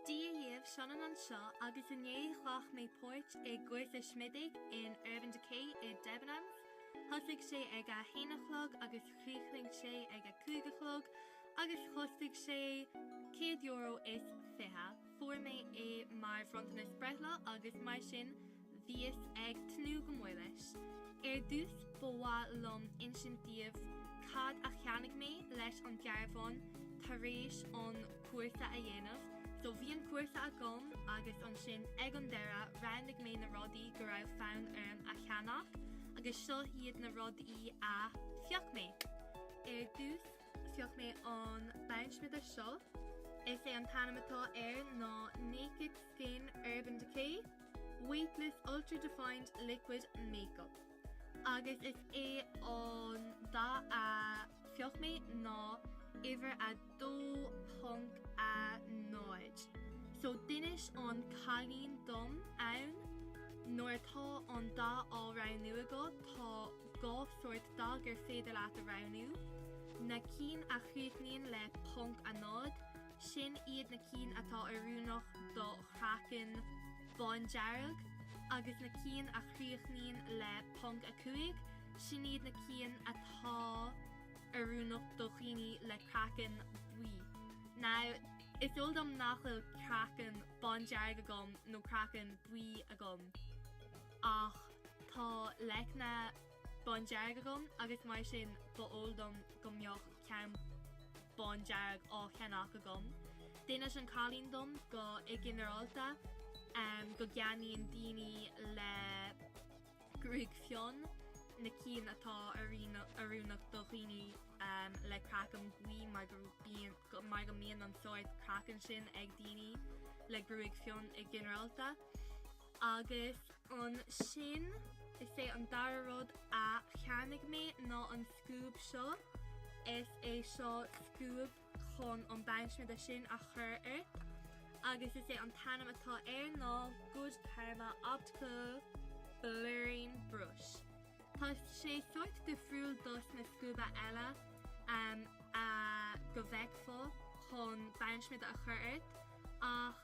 Dia dhaoibh, Sionainn anseo agus inné ghlach mé páirt i gcúrsa smididh in Urban Decay i Debenhams. Thosaigh sé ag a haon a chlog agus chríochnaigh sé ag a cúig a chlog agus chostaigh sé céad euro is fiche. Fuair mé é mar bhronntanas breithlá agus mar sin, bhíos ag tnúth go mór leis. Ar dtús ba mhaith liom insint daoibh cad a cheannaigh mé leis an dearbhán tar éis an cúrsa a dhéanamh. So bhí an cúrsa agam agus ansin ag an deireadh roghnaigh mé na rudaí go raibh fonn orm a cheannach agus seo iad na rudaí a phioc mé. Ar dtús phioc mé an bonnsmideadh seo. Is é an t-ainm atá air ná Naked Skin Urban Decay. Weightless Ultra Defined Liquid Makeup agus is é an dath a phioc mé ná uimhir a dó ponc a náid so d'inis an cailín dom ann nuair atá an dath á roghnú agat tá dhá shórt dath gur féidir leat a roghnú, na cinn a chríochnaíonn le ponc a náid, Sin iad na cinn atá oiriúnach do chraiceann bándearg agus na cinn a chríochnaíonn le ponc a cúig, sin iad na cinn atá oiriúnach do dhaoine le craiceann buí. Now, is eol dom nach bhfuil craiceann bándearg agam nó craiceann buí agam ach tá leicne. bándearg agam agus mar sin ba eol dom go mbeadh ceann bándearg á cheannach agam. D'inis an cailín dom go i ginearálta go gceannaíonn daoine le gruaig fionn na cinn atá oiriúnach do dhaoine le craiceann buí mar go mbíonn an sórt craiceann sin ag daoine le gruaig fionn i ginearálta. Agus ansin, is é an dara rud a cheannaigh mé ná an scuab seo. Is é seo scuab chun an bonnsmideadh sin a chur ort. Agus is é an t-ainm atá air ná Good Karma Optical Blurring Brush. Tá sé sórt difriúil dos na scuaba eile a go bhfeicfeá chun bonnsmideadh a chur ort ach,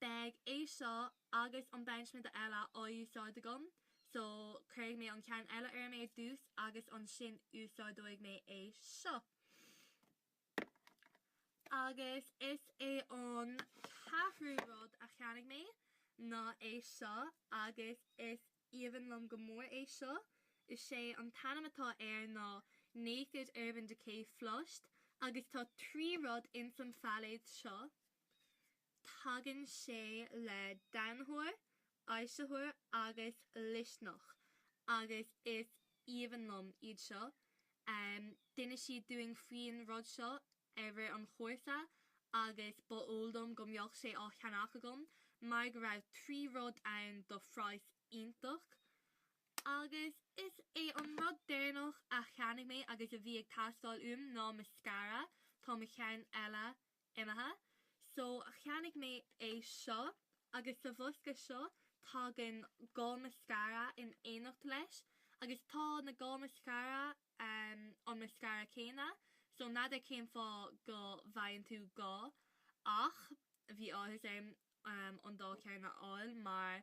Beidh é seo agus an bonn smideadh eile á úsáid agam, so cuirfidh mé an ceann eile orm ar dtús agus ansin úsáideoidh mé é seo. Agus is é an ceathrú rud a cheannaigh mé ná é seo agus is aoibhinn liom go mór é seo. Is é an t-ainm atá air ná Naked Urban Decay Flushed agus tá trí rud ins an phailéad seo. Tagann sé le donnaitheoir, aibhsitheoir agus luisneach agus is aoibhinn liom iad seo. D'inis siad dúinn faoin rud seo i rith an chúrsa agus ba eol dom go mbeadh sé á cheannach agam mar go raibh trí rud ann do phraghas iontach. Agus is é an rud deireanach a cheannaigh mé agus a bhí ag teastáil uaim ná mascara, tá mo cheann eile imithe. So cheannaigh mé é seo agus sa bhosca seo tagann dhá mascara in éineacht leis agus tá na dhá mascara an mascara céanna so n'fheadar cén fáth go bhfaigheann tú dhá ach bhí áthas orm an dá cheann a fháil mar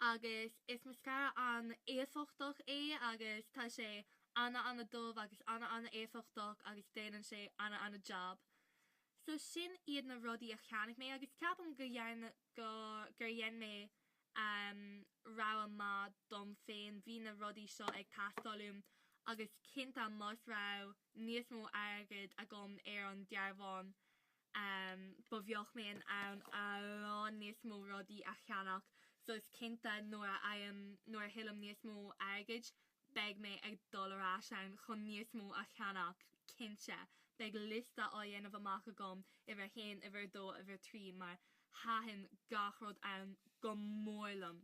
agus is mascara an-éifeachtach é agus tá sé an-an-dubh agus an-an-éifeachtach agus déanann sé an-an-jab. So sin iad na rudaí a cheannaigh mé agus ceapaim go, gur dhein mé ehm rogha maith dom féin, bhí na rudaí seo ag teastáil uaim agus cinnte más raibh níos mó airgead agam ar an dearbhán um ba bheadh mé in ann a lán níos mó rudaí a cheannach so is cinnte nuair a fhaighim, nuair a thuillim níos mó airgid, beidh mé ag dul ar ais ann chun níos mó a cheannach, cinnte, beidh liosta á dhéanamh amach agam, uimhir a haon, uimhir a dó, uimhir a trí, mar thaitin gach rud ann go mór liom.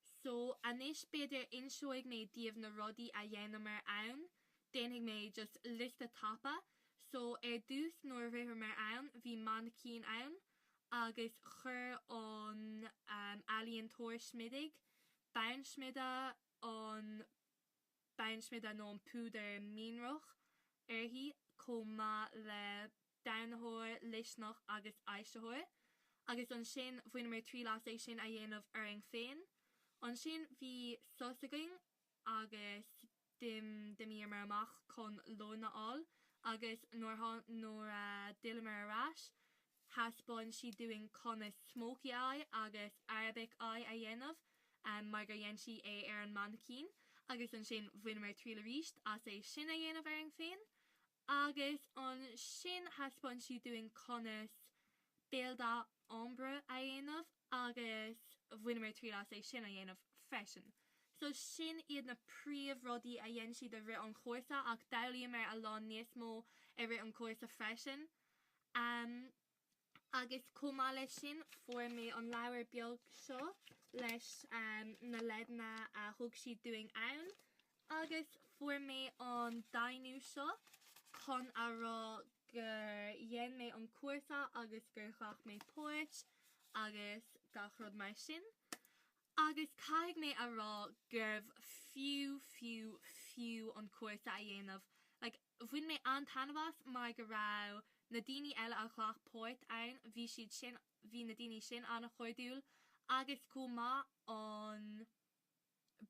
So, anois b'fhéidir inseoidh mé daoibh na rudaí a dhéanamar ann. Déanfaidh mé just liosta tapa. So, ar dtús nuair a shroicheamar ann bhí mainicín ann agus chuir an ealaíontóir smididh, bonn smideadh, an bonn smideadh nó an púdar mianrach uirthi chomh maith le donnaitheoir, luisneach agus aibhsitheoir. Agus ansin bhaineamar triail as é sin a dhéanamh orainn féin. Ansin bhí sos againn agus. D'imíomar amach chun lón a fháil agus nuair a d'fhilleamar ar ais, thaispeáin sí dúinn conas smokey eye agus Arabic eye a dhéanamh mar gur dhein sí é ar an mainicín agus ansin bhaineamar triail aríst as é sin a dhéanamh orainn féin agus ansin thaispeáin sí dúinn conas béal ombre a dhéanamh agus bhaineamar triail as é sin a dhéanamh freisin. So sin iad na príomh rudaí a dhein siad i rith an chúrsa ach d'fhoghlaíomar a lán níos mó i rith an chúrsa freisin. agus chomh maith leis sin fuair mé an leabhar beag seo leis na leideanna a thug siad dúinn ann agus fuair mé an deimhniú seo chun a rá gur dhein mé an cúrsa agus gur ghlac mé páirt agus gach rud mar sin agus caithfidh mé a rá gurbh fiú, fiú, fiú an cúrsa a dhéanamh like. Bhain mé an-taitneamh as mar go raibh na daoine eile a ghlac páirt ann, bhí siad sin, bhí na daoine sin an-chairdiúil agus chomh maith an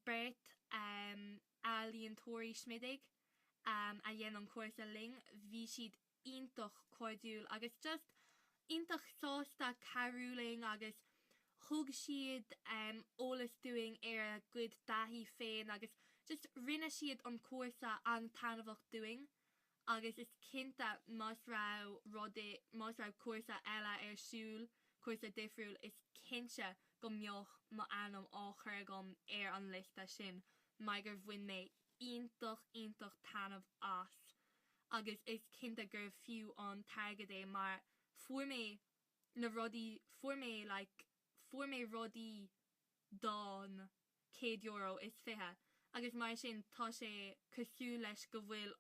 beirt ealaíontóirí smididh a dhein an cúrsa linn, bhí siad iontach cairdiúil agus just iontach sásta cabhrú linn agus thug siad eolas dúinn ar a gcuid taithí féin agus just rinne siad an cúrsa an-taitneamhach dúinn agus is cinnte más raibh rud i, más raibh cúrsa eile ar siúl, cúrsa difriúil, is cinnte go mbeadh mo ainm á chur agam ar an liosta sin mar gur bhain mé iontach iontach taitneamh as agus is cinnte gurbh fiú an t-airgead é mar fuair mé na rudaí fuair mé like fuair mé rudaí don céad euro is fiche agus mar sin tá sé cosúil leis go bhfuil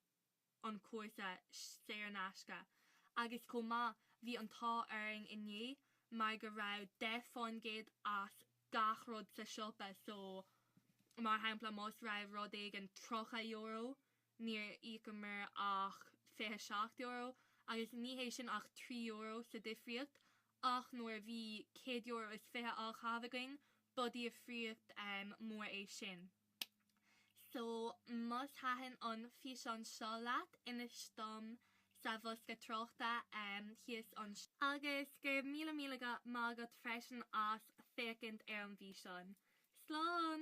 an cúrsa saor in aisce agus chomh maith bhí an t-ádh orainn inné mar go raibh deich faoin gcéad as gach rud sa siopa so mar shampla más raibh rud éigin tríocha euro níor íocamar ach €27 agus ní hé sin ach €3 sa difríocht ach nuair a bhí €100 is fiche á chaitheamh againn, ba dhifríocht mór é sin. So, más thaitin an físeán seo leat, inis dom sa bhosca tráchta thíos anseo. Agus go raibh míle míle maith agat freisin as féachaint ar an bhfíseán. Slán!